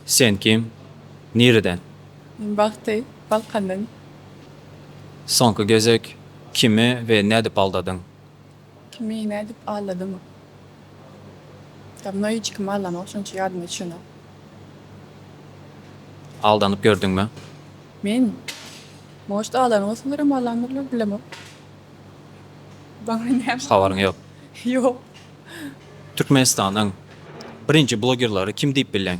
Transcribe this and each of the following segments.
Sen kim? Nireden? Men Bagty, Balkandan. Soňky gezek kimi we nädip aldadyň? Kimi nädip aldadym? Dawno hiç kimi aldanok şonça ýadyma düşenok. Aldanyp gördüňmi? Men? Может aldanyp bolsalarym aldandylar bilemok. Maňa näme? Habaryň ýok. Ýok. Türkmenistanyň birinji blogerlary kim diýip bilýäň?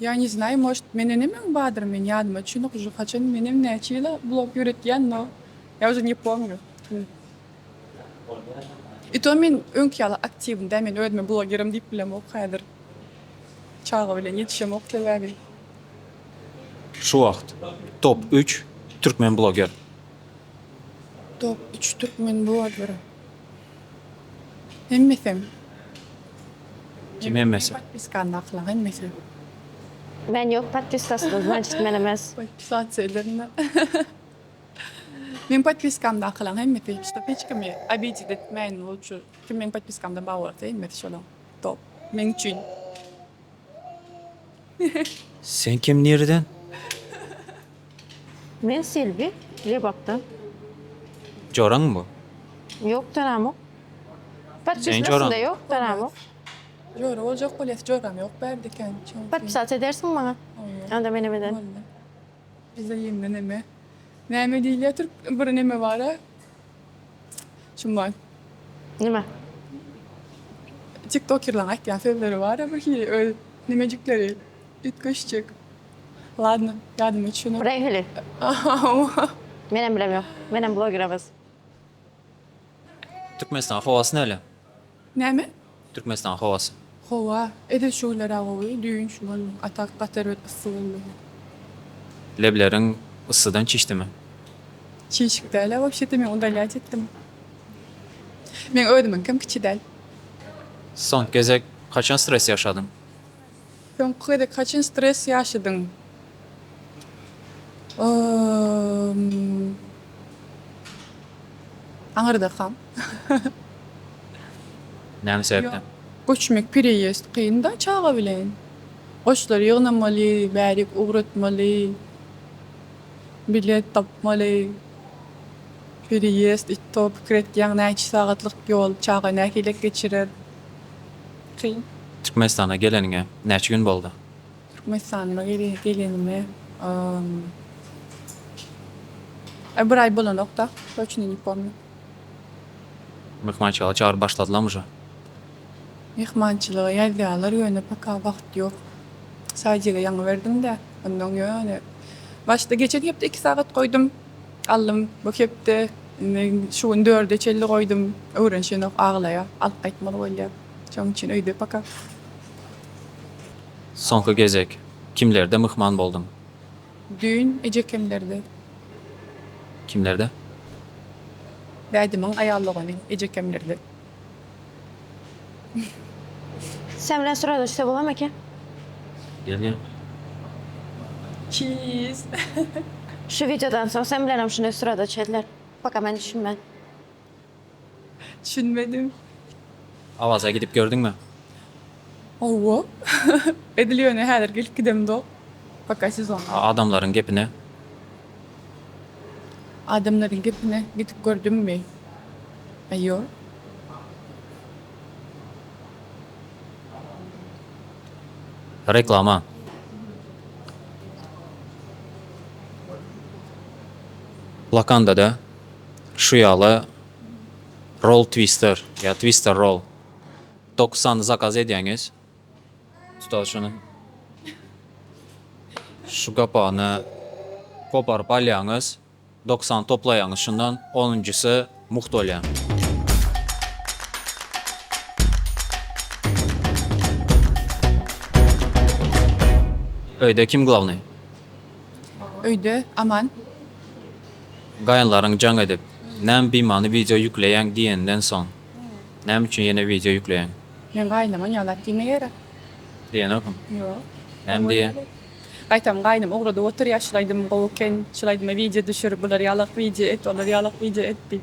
Ýa ne znaýy может mende nemeň badyr men ýadyma çynyk uje haçan menem näçe ýyla blog ýöretýän no ýa uje ne pomnýu i to men öňki ýaly aktiwny dä men özüme blogerim diýip bilemok häzir çaga bilen ýetişemok sebäbi. Şu wagt top üç türkmen bloger. Top üç türkmen bloger. Hemmesem. Kim hemmesi? Podpiskany aklaa hemmesem. Men yok podpiskasynda znaçit men emes. Podpisasiýa edenme. Meň podpiskamda akylaň hemmesi şup hiç kimi obidit etmäýin lutşy kim meň podpiskamda bar bolsa hemmesi şolaň top meň üçin. Sen kim nireden? Men Selbi, Lebapdan. Joraň bu? Ýok joramok. Podpisnasynda ýok joramok. Jora boljak bolýas joram ýok bärde kän. Podpisat edersiň maňa. Onda menem ederin. Bize ýeňňe neme. Näme diýilýätir bir neme bara şum bar. Nime? Tiktokerlaň aýtýan sözleri bara bir hili öz nimejikleri üýtgeşjek. Ladno ýadyma düşenok. Reýhili. Hawa. Menem bilem ýok. Menem bloger emes. Türkmenistanyň howasy näle? Näme? Türkmenistanyň howasy. Howa edil şu günler-ä gowy, düýn şu gün atak gaty erbet yssy boldy. Lebleriň yssydan çişdimi? Çişik däl-ä wapşe-de men udalyýaç etdim. Meň özümiňkem kiçi däl. Soňky gezek haçan stres ýaşadyň? Soňky gezek haçan stres ýaşadyň? Aňyrdakam. Näme sebäpden? Göçmek pereýezd kyn-da çaga bilen. Goşlary ýygnamaly, bärik ugratmaly, bilet tapmaly. Pereýezd, it-to pikir etýäň näçe sagatlyk ýol, çaga nähilek geçirer. Kyn. Türkmenistana geleniňe näçe gün boldy? Türkmenistana gelenime bir aý bolanokda, toçnyny ne pomnýa. Myhmançylyga çagyryp başladylarmy uje? Myhmançylyga ýazýarlar, ýöne paka wagt ýok. Sadjige ýaňy berdim-de, onnoň ýöne başda geçen hepde iki sagat goýdum. Aldym bu hepde indi şu gün dörde çenli goýdum öwrenişenok aglaýa alyp gaýtmaly bolýa şoň üçin öýde paka. Soňky gezek kimlerde myhman bolduň? Düýn ejekemlerde. Kimlerde? Dädemiň aýal dogany ejekemlerde. Sen bilen syradaşsa bolam eken. Gel gel. Çiiiz. Şu videodan soň sen bilenem şunday syrada çeler. Paka men düşünmen. Düşünmedim. Awaza gidip gördüňmi? Hawa. Edil ýöne häzir gelip gidemzok. Paka sezonda. Adamlaryň gepine Adamlaryň gepine gidip gördüňmi? Aýo. Reklama. Blokandada şu ýaly roll twister ýa twister roll dokuz sany zakaz edýäňiz. Usta şuny şu gapagyny koparyp alýaňyz, doksan toplaýaňyz şundan, onunjysy mugt bolýar. Öýde kim glawnyý? Öýde Aman. Gaýynlaryň jaň edip, Näme bimany wideo ýükleýäň diýenden soň. Näme üçin ýene wideo ýükleýäň? Meň gaýynymam ýaly zat diýmeýärä. Diýenokm. Ýok. Näme diýýä? Gaýtam gaýnym ugradyp oturýa şul aýdym gowy eken, şul aýdyma wideo düşür, bular ýalak wideo et, olar ýalak wideo et diýip.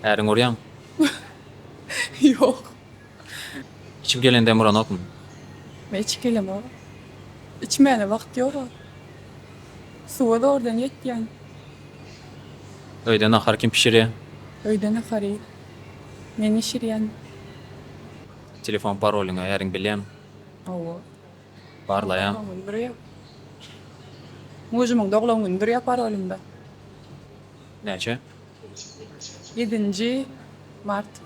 Äriňi urýaňmy? Ýok. Içip gelen dem uranokmy? Men içip gelemok. Içmäne wagt ýog-a. Suwa zordan ýetýän. Öýde nahar kim bişirýä? Öýde nahary men bişirýän. Telefon parolyňy äriň bilýämi? Hawa. Barlaýan. Doglan güni durýar. Mujumyň doglan güni durýar parolymda. Näçe? Ýedinji mart.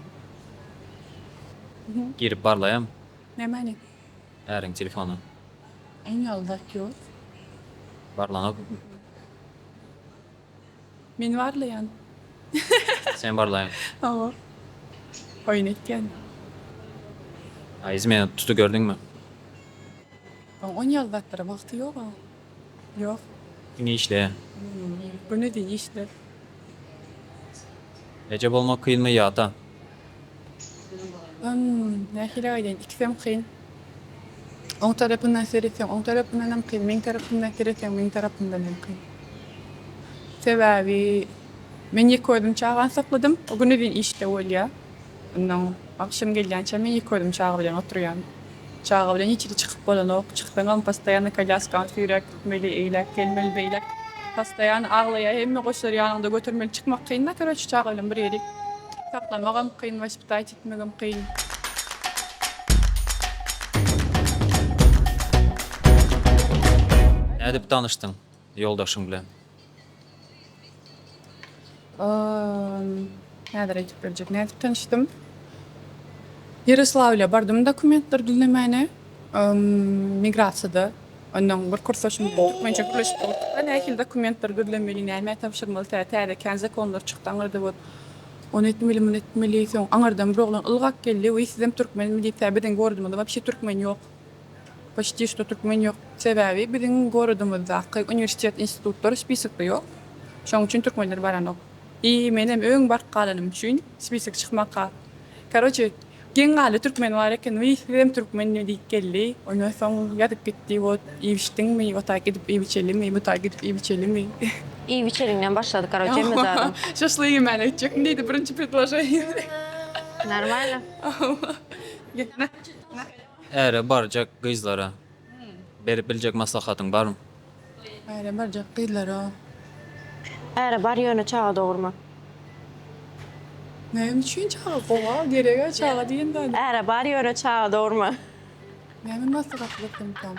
Girip barlaýam. Nämäni? Äriň telefony. Iň ýaly zat ýok. Barlanok. Men barlaýan. Sen barlaýan. Hawa. Oýun etýän. Aýyz meni tuty gördüňmi? Oň ýaly zatlara wagty ýog-a. Ýok. Diňe işleýän. Güni deý işler. Eje bolmak kynmy ýa ata? Hum, nähili aýdaýyn, ikisem kyn. Oň tarapyndan seretseň, oň tarapyndan hem kyn, meň tarapymdan seretseň, meň tarapymdan hem kyn. Sebäbi men ýeke özüm çagany sakladym, o güne deýin işde bolýar. Onnoň agşam gelýänçäm men ýeke özüm çaga bilen oturýan. Çaga bilen hiç hili çykyp bolanok. Çyksaňam postoýanno kolýaskany süýräp gitmeli, eýläk gelmeli, beýläk. Postoýan aglaýar, hemme goşar ýanyňda götermeli çykmak kyn-da koroçi çaga bilen bir ýeri saklamagam kyn, waspitaýt etmegem kyn. Nädip tanyşdyň? Ýoldaşyň bilen. Ol häzir aýdyp berjek nädip tanyşdym. Ýaroslawlýa bardym dokumentleri düzlemäne. Migrasiýada onnoň bir kursaşym bilen türkmençe gürleşip oturduk. Nähili dokumentleri düzlemeli, nämä tabşyrmaly, tä täze kän zakonlar çykdy aňyrda bot. Ony etmeli, muny etmeli. Soň aňyrdan bir oglan ylgap geldi. Wiý sizem türkmenmi diýip tä biziň gordumyzda wapşe türkmen ýok. Poçti şto türkmen ýok. Sebäbi biziň gorodymyzdaky uniwersitet institutlary spisokda ýok. Şoň üçin türkmenler baranok. I menem öň baryp galanym üçin spisok çykmaka. Karoçe geň galdy türkmen bar eken wiý sizem türkmenmi diýip geldi. Ondan soň ýazyp gitdi wot iýip içdiňmi wota gidip iýip içelimi buta gidip iýip içelimi. Iýip içeliňden başlady karoçe hemme zadam. Şaşlygy ýemän öýtjekmi diýdi birinji predloženiýada. Normalno. Äre barjak gyzlara berip biljek maslahatyň barmy? Äre barjak gyzlara. Äre bar ýöne çaga dogurma. Näme üçin çaga gowa gerega çaga diýen zady. Äre bar ýöne çaga dogurma. Näme maslahat bersemkäm.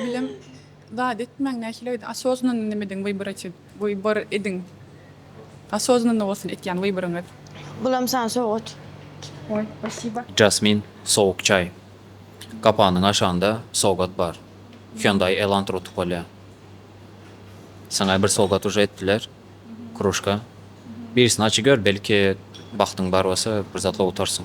Bilem. Zat etmäň nähili öýde asoznanny nimidiň wybor etin wybor ediň asoznanny bolsun etýän wyboryňyz. Bulam saňa sowgat. Oj spasiba. Jasmin sowuk çaý. Gapanyň aşagynda sowgat bar. Hyundai Elantra utup bolýa. Saňa bir sowgat uje etdiler. Kruşka. Birisini aç gör belki bagtyň bar bolsa bir zatlar utarsyň.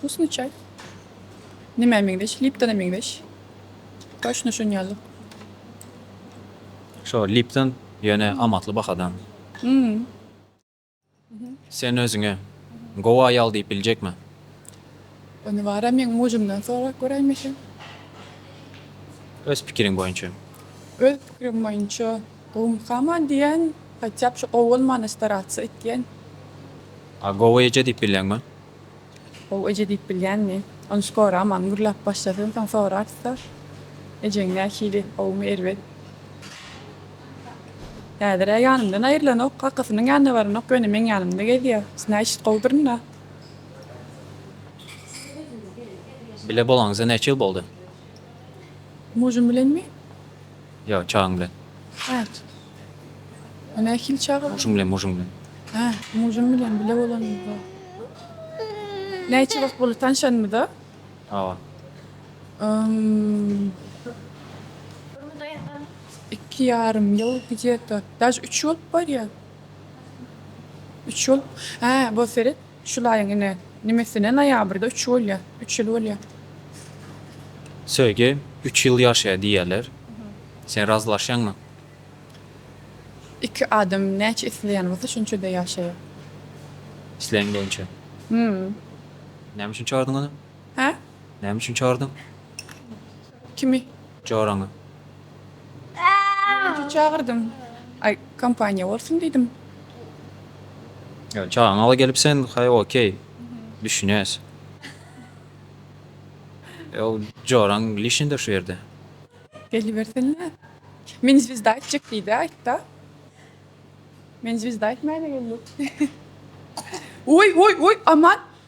Wkusny çaý. Nime meňzeş? Liptona meňzeş. Toçno şuň ýaly. Şo Lipton ýöne amatly bahadan. Hmm. Sen özüňe gowy aýal diýip biljekmi? Ony bara meň mujumdan sorap göräýmişin. Öz pikiriň boýunça? Öz pikirim boýunça gowumykaman diýýän, hatýap şu gowy bolmana starassa etýän. A gowy eje diýip bilýäňmi? How eje diýip bilýänmi? Ony skora aman gürläp başlasyn soň sorarys-da. Ejeň nähili? Howmy erbet? Häzir-ä ýanymdan aýrylanok, kakasynyň ýanyna baranok, ýöne meň ýanymda gezýär. Znaýşt gowudyryn-a. Bile bolaňyza näçe ýyl boldy? Mujum bilenmi? Ýa çagyň bilen. Hat. O nähili çaga? Muşuň bilen, muşuň bilen. Hä, muşum bilen bile bolanymyz-a. Näçe wagt boldy tanşanymyza? Hawa. Ym. Iki ýarym ýyl gidýärka. Daž üç bolup barýa. Üç ýyl. Hä, bol seret. Şul aýyň ine nimesine noýabrda üç bolýa. Üç ýyl bolýa. Söýgi üç ýyl ýaşaýar diýýärler. Sen razylaşýaňmy? Iki adam näçe isleýän bolsa şonça-da ýaşaýar. Islegiň boýunça. Hum. Näme üçin çagyrdyň ony? Hä? Näme üçin çagyrdyň? Kimi? Joraňy. Näçe çagyrdyň? Aý, kompaniýa bolsun diýdim. Ýa, çagmaga gelipsen, haý, okey. Düşünýäs. Ýa, joraň lişnýdir şu ýerde. Gelibersene. Meni zwizda aýtjak diý-de, aýt-da. Meni zwizda aýtmaýan ekenler. Oý, oý, oý, aman!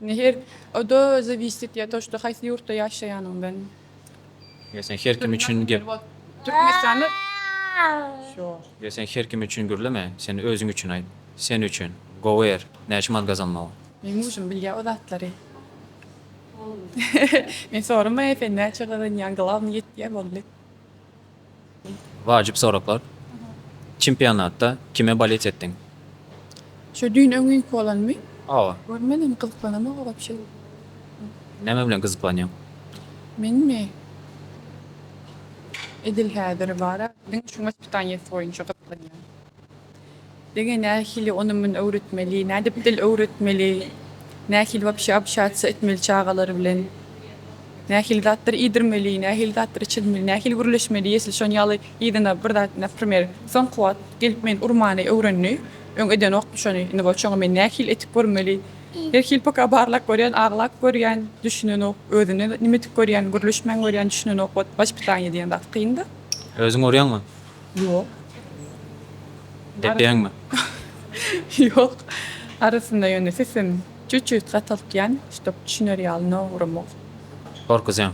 Her oda zawisit etýär to şda haýsy ýurtda ýaşaýanyňdan. Ýa sen her kim üçin gep. Türkmenistanda şo. Ýa sen her kim üçin gürleme sen özüň üçin aýt sen üçin gowy er näçe manat gazanmagy. Meň mujym bilýä o zatlary. Men soramaýa sen näçe gazanýaň glawny ýetýä boldy. Wajyp soraglar. Çempionatda kime bolet etdiň? Şu düýn öňňinki bolanmy? Hawa. Görmedim, gyzyklanamok wobşe. Näme bilen gyzyklanýaň? Menmi? Edil häziri bar-a, diňe şuň ispitaniýesi boýunça gyzyklanýan. Diňe nähili ony-muny öwretmeli, nädip dil öwretmeli, nähili wapşe obşatsiýa etmeli çagalar bilen, nähili zatlar iýdirmeli, nähili zatlar içirmeli, nähili gürleşmeli, esli şon ýaly yzyna bir zat, naprimer, soňky wagt gelip meni urmany öwrendi, öň edenokdy şony, indi bolsa şoňa men nähili edip görmeli, herhili paka barlap görýän, aglap görýän, düşünenok, özüne nimedik görýän, gürleşmän görýän, düşünenok, wot waspitaniýe diýen zat kyn-da. Özüň urýaňmy? Ýok. Depeňmi? Ýok. Arasynda ýöne sesim çüt-çüt gataltýan, şdop düşüner ýaly nowramok. Gorkuzýaň?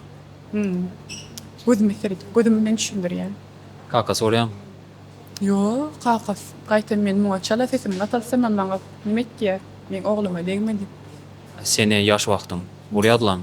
Hum. Gözüme seredip, gözüm bilen düşündirýän. Kakasy bolýaň? Ýok, kakasy. Gaýtam men muňa çala sesimi gataltsamam maňa neme etýär? Meň ogluma degmedi. Seni ýaş wagtyň. Bul ýazylany.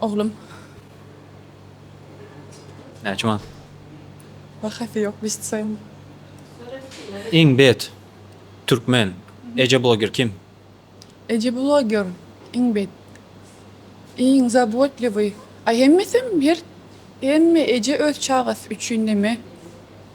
Oglum. Näçe manat? Bahasy ýok biz tusaýyn. Iň bet türkmen eje bloger kim? Eje bloger iň bet. Iň zabotlywý. Aý hemmesem her hemme eje öz çagasy üçin neme.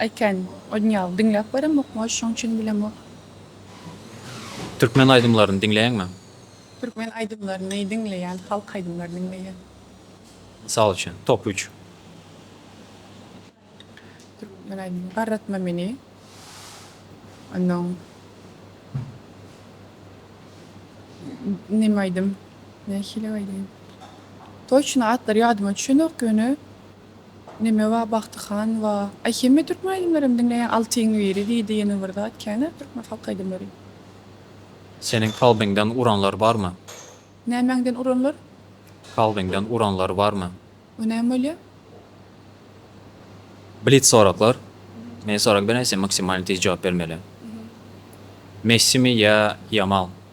Aýken, Odňal, diňläp göremok, moý şoň üçin bilemok. Türkmen aýdymlaryny diňleýäňmi? Türkmen aýdymlaryny diňleýän, halk aýdymlary diňleýän. Mysal üçin, top üç. Türkmen aýdymlary, Garratma meni, onnoň Neme aýdym, nähili aýdym, toçno atlary ýadyma düşenok ýöne Neme ba Bagty han wa. Aý hemme türkmen aýdymlaram diňleýän altyň biri diýdi ýene bir zat känä türkmen halk aýdymlary. Seniň kalbyňdan uranlar barmy? Nämäňden uranlar? Kalbyňdan uranlar barmy? O näme bolýa? Blitz soraglar. Men sorag berýän sen maksimalny tiz jogap bermeli. Messimi ýa Ýamal?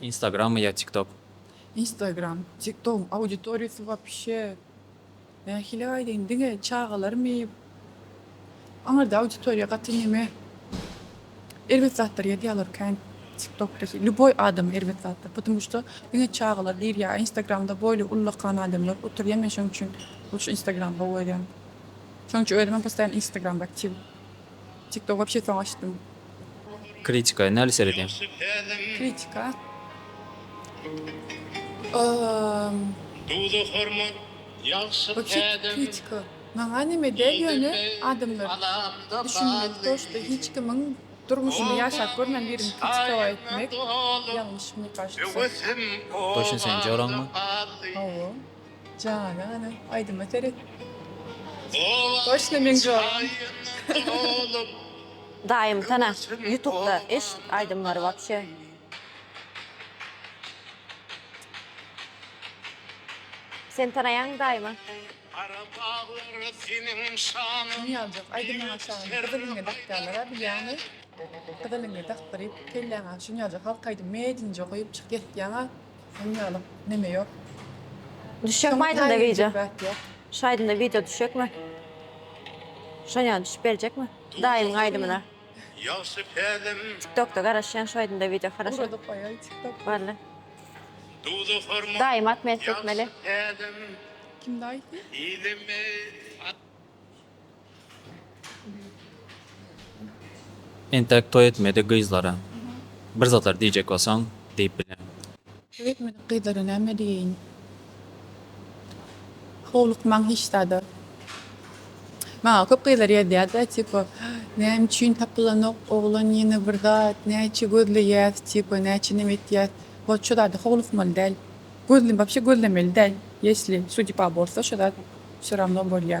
Instagram ýa tiktok. Instagram, tiktogyň auditoriýasy wapşe nähili aýdaýyn diňe çagalarmy aňyrda auditoriýa gaty neme erbet zatlar ýazýalar kän tiktokda lýuboý adam erbet zatlar pudum şda diňe çagalar girýa a instagramda boýly ullakan adamlar oturýa men şoň üçin luşy instagram gowy görýän şoň üçin özümem postaýan instagramda aktiw tiktok wapşe soň açdym. Kritika, näli seredýäň? Kritika. Bu kritika maňa neme däl ýöne adamlar düşünmeli toşda hiç kimiň durmuşyny ýaşap görmän birini kritika etmek ýalňyş me kaştsa. Toşyn sen joraňmy? Hawa. Jana ana aýdyma seret. Toşna meň jogam. Daýym sana ýutupda eş aýdymlary wapşe. Sen tanaýaňmy daýymy? Nyýaljak aýdym maňa şaly gyzyl iňňe dakýalara bilýäňmi? Gyzyl iňňe dakdyryp kelläňe şu nyýaljak halk aýdym medinje goýup çyk ýetýäňa. Sen ýaly neme ýok. Düşekmi aýdymda wideo? Şu aýdymda wideo düşekmi? Şo ýaly düşüp berjekmi? Daýymyň aýdymyna. Ýagşy pälim. TikTokda garaşýan şu aýdymda wideo haraşa. Urady goýaý TikTok. Wally. Duzu hormat. Daýym atmet etmeli. Kim daýysy? Ýylymyz. Entek toý etmedik gyzlara bir zatlar diýjek bolsaň diýip bileň. Toý etmedik gyzlara näme diýeýin. Howlukmaň hiç zada. Maňa köp gyzlar ýazýarda tipa näme üçin tapylanok oglan ýene bir zat näçe gözleýäs tipa näçe neme etýäs. Ýok şo zada howlukmaly däl. Gözle wapşe gözlemeli däl. Ýesli sudýba bolsa şo zat şo rawno bolýa.